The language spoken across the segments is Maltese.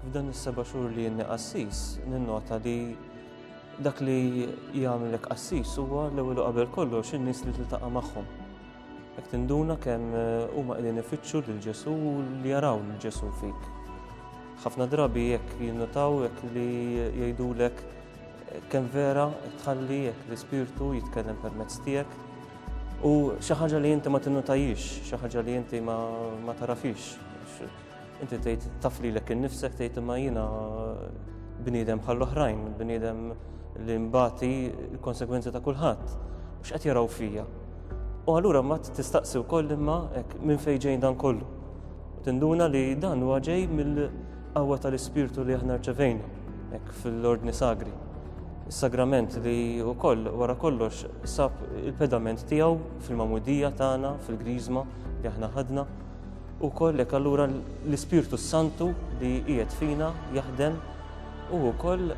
F'dan is-seba' xhur li jenni qassis, ninnota li dak li jagħmlek qassis huwa l-ewwel qabel kollox in-nies li tiltaqa' magħhom. Jekk tinduna kemm eh, huma qegħdin ifittxu lil Ġesu u li jaraw lil Ġesu fik. Ħafna drabi jekk jinnotaw jekk li jgħidulek eh, kemm vera tħalli jekk l-ispirtu jitkellem permezz tiegħek U xi ħaġa li inti ma tinnutajiex, xi ħaġa li inti ma tarafix. Inti tgħid taf lilek innifsek tgħid imma jiena bniedem bħall-oħrajn, bniedem li mbati l-konsekwenzi ta' kulħadd. X'qed jaraw fija. U allura ma tistaqsi wkoll imma hekk minn fejn ġejn dan kollu. Tinduna li dan huwa ġej mill Qawwa tal-Ispirtu li aħna rċevejna hekk fil-Ordni Sagri. Is-sagrament li wkoll wara kollox sab il-pedament tiegħu fil-mamudija tagħna, fil-griżma li aħna ħadna. U kollek allura l-Ispirtu Santu li qiegħed fina jaħdem u wkoll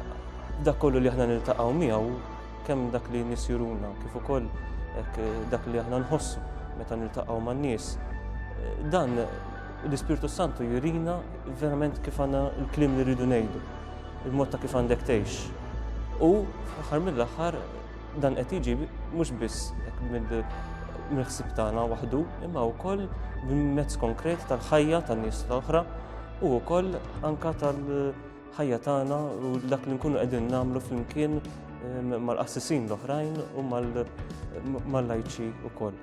dak kollu li aħna niltaqgħu miegħu kemm dak li nisjuruna kif ukoll dak li aħna nħossu meta niltaqgħu man-nies. Dan L-Ispirtu s-Santu jurina verament kif għandna l-kliem li rridu ngħidu, il-mod ta' kif għandek tgħix. U fl-aħħar mill-aħħar dan qed jiġi mhux biss mill-ħsib tagħna waħdu, imma wkoll mezz konkret tal-ħajja tan-nies l-oħra u wkoll anka tal-ħajja tagħna u dak li nkunu qegħdin nagħmlu flimkien mal-qassisin l-oħrajn u mal-lajċi wkoll.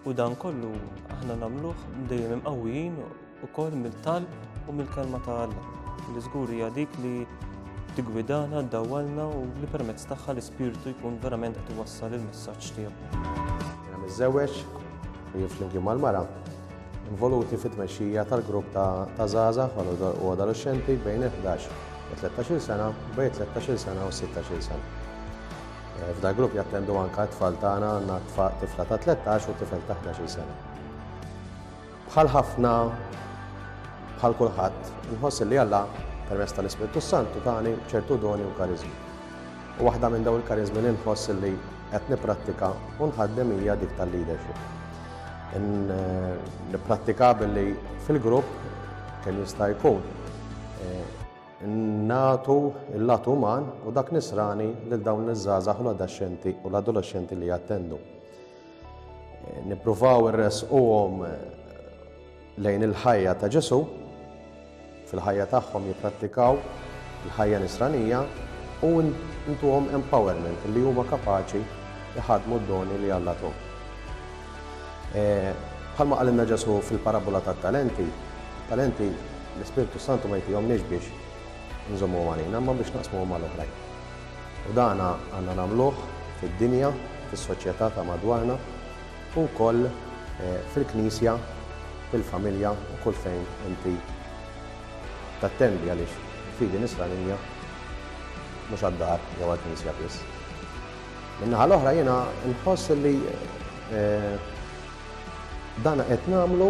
U dan kollu aħna nagħmluh dejjem imqawwijin ukoll mill-talb u mill-kelma ta' Alla, li żgur hija dik li tigwidana, ddawwalna u li permezz tagħha l-Ispirtu jkun verament qed iwassal il-messaġġ tiegħu. Jiena miżżewweġ u jien flimkien mal-mara involuti fit-tmexxija tal-grupp ta' żgħażagħ u adolexxenti bejn il-11 u 13-il sena, bejn 13-il sena u 16-il sena. F'dal-grupp jattendu anke t-tfal tagħna, għandna tifla ta' 13 u tifel ta' 11-il sena. Bħal ħafna, bħal kulħadd, inħoss li Alla permezz tal-Ispirtu Santu tani ċertu doni u kariżmi. U waħda minn daw il-kariżmi li nħoss li qed nipprattika u nħaddem hija dik tal-leadership. Eh, nipprattika billi fil-grupp kemm jista' jkun eh, nagħtu l-lat uman u dak nisrani lil dawn iż-żgħażagħ u l-adaxxenti u l-adolexxenti li jattendu. Nippruvaw irresquhom eh, lejn il-ħajja ta' Ġesu, fil-ħajja tagħhom jipprattikaw il-ħajja nisranija u ntuhom empowerment li huma kapaċi jħadmu d-doni li Alla tuħ. Bħalma qalilna Ġesù fil-parabbola tat-talenti, it-talenti l-Ispirtu s-Santu ma jtihomniex biex inżommuhom għalina, imma biex naqsmuhom mal-oħrajn. U dan għandna nagħmluh fid-dinja, fis-soċjetà ta' madwarna, u wkoll fil-Knisja, fil-familja u kull fejn inti tattendi għaliex il-fidi nisranija mhux għad-dar jew għall-knisja biss. Min-naħa l-oħra jiena nħoss li dan qed nagħmlu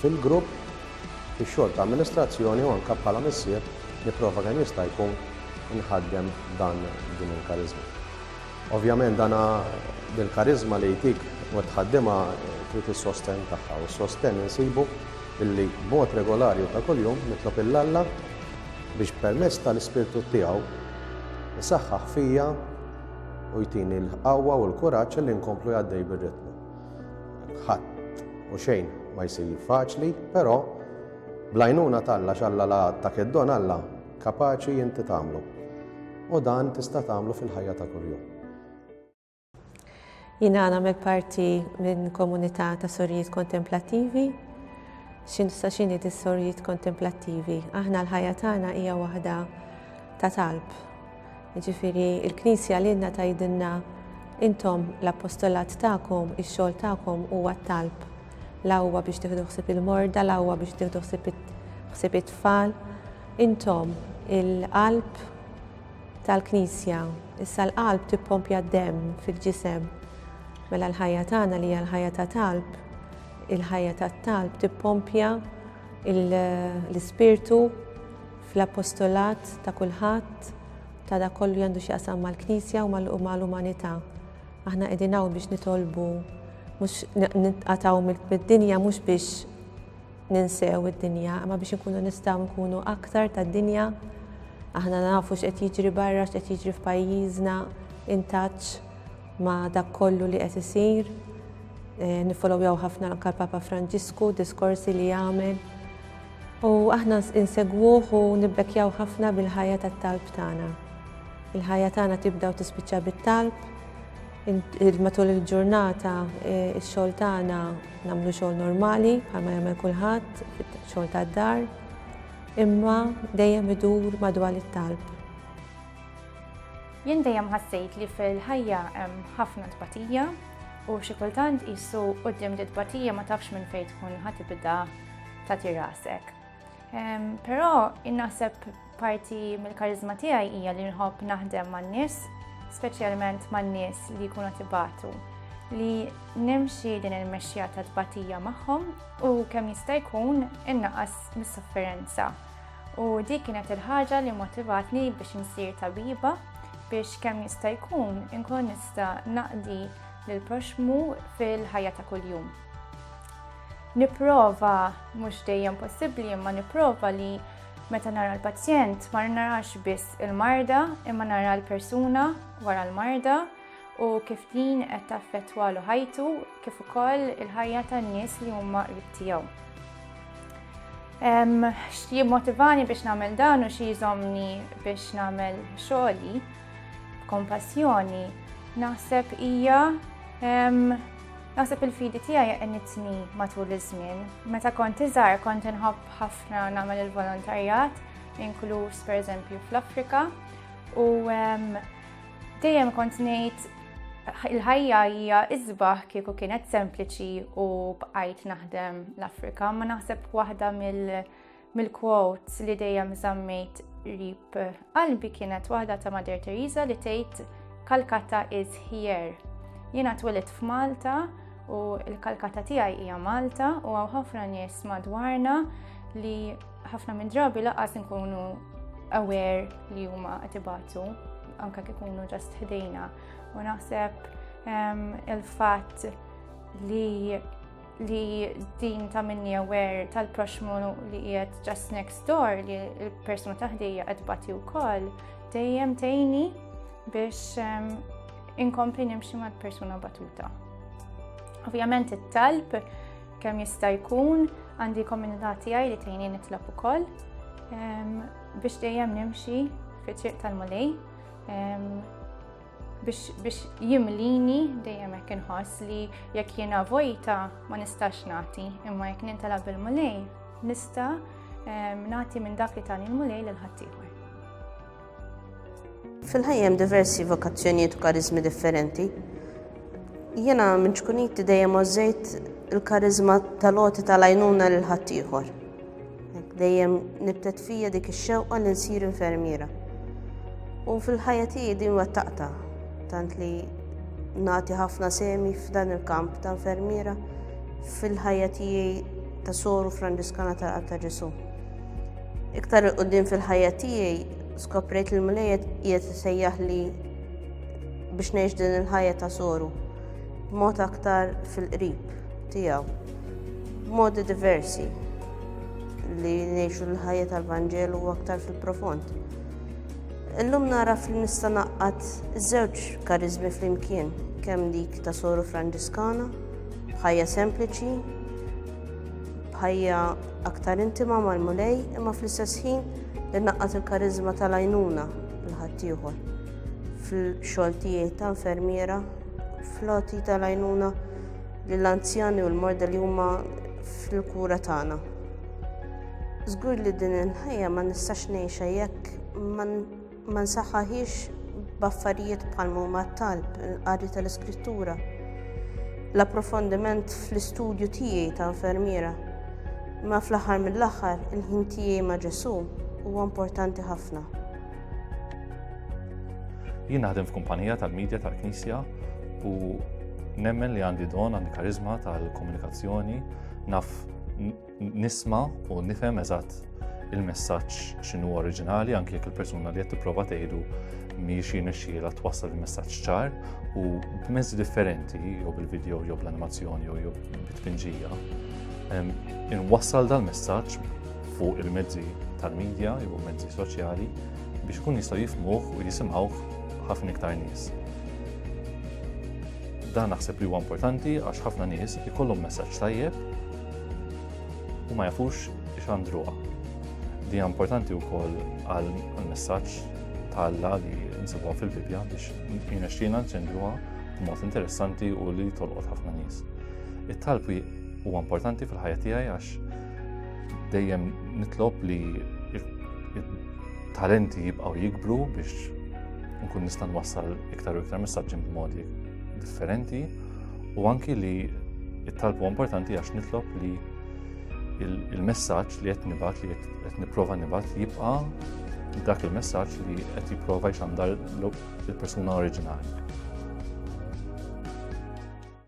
fil-grupp fix-xogħol ta' amministrazzjoni u anke bħala missier nipprova kemm jista' jkun inħaddem dan din il-kariżma. Ovvjament dan dil-kariżma li jtik u qed tħaddimha trid is-sostenn tagħha u s-sostenn insibu billi b'mod regolari u ta' kuljum nitlob 'il Alla Biex permezz tal-Ispirtu tiegħu jsaħħaħ fija u jtini l-qawwa u l-kuraġġ li nkomplu għaddej bir-ritmu. Ħadd u xejn ma jsir faċli, però blajnuna talla xalla la ta' keddon Alla kapaċi inti tagħmlu. U dan tista' tagħmlu fil-ħajja ta' kuljum. Jina nagħmel parti minn komunità ta' sorjiet kontemplattivi. X'in sa x'inhi dis-sorjiet kontemplattivi? Aħna l-ħajja tagħna hija waħda ta' talb. Jiġifieri il-Knisja lilna tgħidilna intom l-appostolat tagħkom, ix-xogħol tagħkom huwa t-talb. La huwa biex tieħdu ħsieb il-morda, la huwa biex tieħdu ħsieb it-tfal. Intom il-qalb tal-Knisja. Issa l-qalb tippompja d-demm fil-ġisem. Mela l-ħajja tagħna li hija l-ħajja ta' talb, il-ħajja tat-talb tippompja l-ispirtu fl-apostolat ta' kulħadd ta' dak kollu li għandu x'jaqsam mal-Knisja u mal-umanità. Aħna qegħdin hawn biex nitolbu mhux nitqatgħu mid-dinja mhux biex ninsew id-dinja, imma biex inkunu nistgħu nkunu aktar tad-dinja. Aħna nafu x'qed jiġri barra, x'qed jiġri f'pajjiżna, intaċ ma' dak kollu li qed isir. Eh, Nifolowjaw ħafna anke Papa Franġisku, diskorsi li jagħmel. U aħna insegwuh u nibbekjaw ħafna bil-ħajja tat-talb tagħna. Il-ħajja tagħna tibda u tispiċċa bit-talb, Matul il-ġurnata x-xogħol tagħna nagħmlu xogħol normali bħalma jagħmel kulħadd, xogħol tad-dar, imma dejjem idur madwar it-talb. Jien dejjem ħassejt li fil-ħajja hemm ħafna tbatija u xi kultant qisu quddiem di tbatija ma tafx minn fejn tkun ħa tibda tagħti rasek. Però innaħseb parti mill-karizma tiegħi hija li nħobb naħdem man-nies, speċjalment man-nies li jkunu tibatu li nimxi din il-mexxija ta' tbatija magħhom u kemm jista' jkun innaqas mis-sofferenza. U dik kienet il-ħaġa li motivatni biex insir tabiba biex kemm jista' jkun inkun nista' naqdi lill proxmu fil-ħajja ta' kuljum. Nipprova, mhux dejjem possibbli, imma nipprova li meta nara l-pazjent ma narax biss il-marda imma nara l-persuna wara l-marda u kif din qed taffettwalu ħajtu kif ukoll il-ħajja tan-nies li huma qrib tiegħu. Xi motivani biex nagħmel dan u xi jżomni biex nagħmel xogħli b'kompassjoni naħseb hija Naħseb il-fidi tiegħi għenitni matul iż-żmien. Meta kont iżgħar kont inħobb ħafna nagħmel il-volontarjat, inkluż pereżempju fl-Afrika, u dejjem kont ngħid il-ħajja hija iżbaħ kieku kienet sempliċi u bqajt naħdem l-Afrika, ma naħseb waħda mill- mill-quotes li dejjem żammejt rib qalbi kienet waħda ta' Mader Teresa li tgħid Kalkata is here. Jiena twilit f'Malta u l-Kalkata tiegħi hija Malta u għaw ħafna nies madwarna li ħafna minn drabi laqas nkunu aware li huma qed ibatu anke kif ikunu ġast ħdejna u naħseb ehm, il-fatt li li din ta' minni aware tal-proxmu li qiegħed just next door li l-persuna taħdejja qed bati wkoll dejjem tejni biex ehm, inkompli nimxi mal-persuna batuta. Ovvjament it-talb kemm jista' jkun għandi komunità tiegħi li tgħini nitlob ukoll ehm, biex dejjem nimxi fi triq tal-mulej ehm, biex jimlini dejjem hekk inħoss li jekk jiena vojta ma nistax nagħti, imma jekk nintela bil-mulej nista' ehm, nagħti minn dak li tani l-mulej lil ħaddieħor. Fil-ħajjem diversi vokazzjonijiet u karizmi differenti. Jiena minn ċkuniti dejjem ożejt il-karizma tal-oti tal-għajnuna lil ħaddieħor. Dejjem nibtet fija dik ix-xewqa li nsir infermiera. U fil-ħajja tiegħi din wettaqta, tant li nagħti ħafna semi f'dan il-kamp ta' infermiera fil-ħajja tiegħi ta' soru Franġiskana ta' ta' Ġesu. Iktar il-qudiem fil-ħajja tiegħi skoprejt li l-mlejjet qiegħed isejjaħ li biex ngħix din il-ħajja ta' soru b'mod aktar fil-qrib. tiegħu b'modi diversi li ngħixu l-ħajja tal-Vanġelu u aktar fil-profond. Illum naraf li nista' naqqat żewġ karizmi flimkien kemm dik ta' soru Franġiskana, bħajja sempliċi, bħajja aktar intima mal-mulej, imma fl-istess ħin li naqqat il-karizma tal-għajnuna l-ħaddieħor fil-xogħol tiegħi ta' infermiera, floti tal-għajnuna lill-anzjani u l-morda li huma fil-kura tagħna. Żgur li din il-ħajja ma nistax ngħixha jekk ma nsaħħaħiex b'affarijiet bħal huma t-talb, il-qari tal-iskrittura, l-approfondiment fl-istudju tiegħi ta' infermiera. Ma fl-aħħar mill-aħħar, il-ħin tiegħi ma' Ġesù huwa importanti ħafna. Jien naħdem f'kumpanija tal-medja tal-Knisja u nemmen li għandi don għandi karizma tal-komunikazzjoni naf nisma u nifhem eżatt il-messaġġ x'inhu oriġinali anke jekk il-persuna li qed tipprova tgħidu mhijiex jinexxiela twassal il-messaġġ ċar u b'mezzi differenti jew bil-video jew bl-animazzjoni jew bit-tpinġija. Inwassal dal-messaġġ fuq il-mezzi tal-medja jew mezzi soċjali biex ikun jistgħu jifmuh u jisimgħuh ħafna iktar nies. Dan naħseb li huwa importanti għax ħafna nies ikollhom messaġġ tajjeb u ma jafux x'għandruha. Li hija importanti wkoll għal messaġġ ta' Alla li nsibuha fil-Bibbja biex jinexxina nċendruha b'mod interessanti u li tolqot ħafna nies. It-talb huwa importanti fil-ħajja tiegħi għax Dejjem nitlob li talenti jibqgħu jikbru biex nkun nista' nwassal iktar u iktar messaġġi b'modi differenti u anki li it-talbu importanti għax nitlob li il-messaġġ li qed nibgħat li qed nipprova nibgħat jibqa' dak il-messaġġ li qed jipprova jxandar il-persuna oriġinali.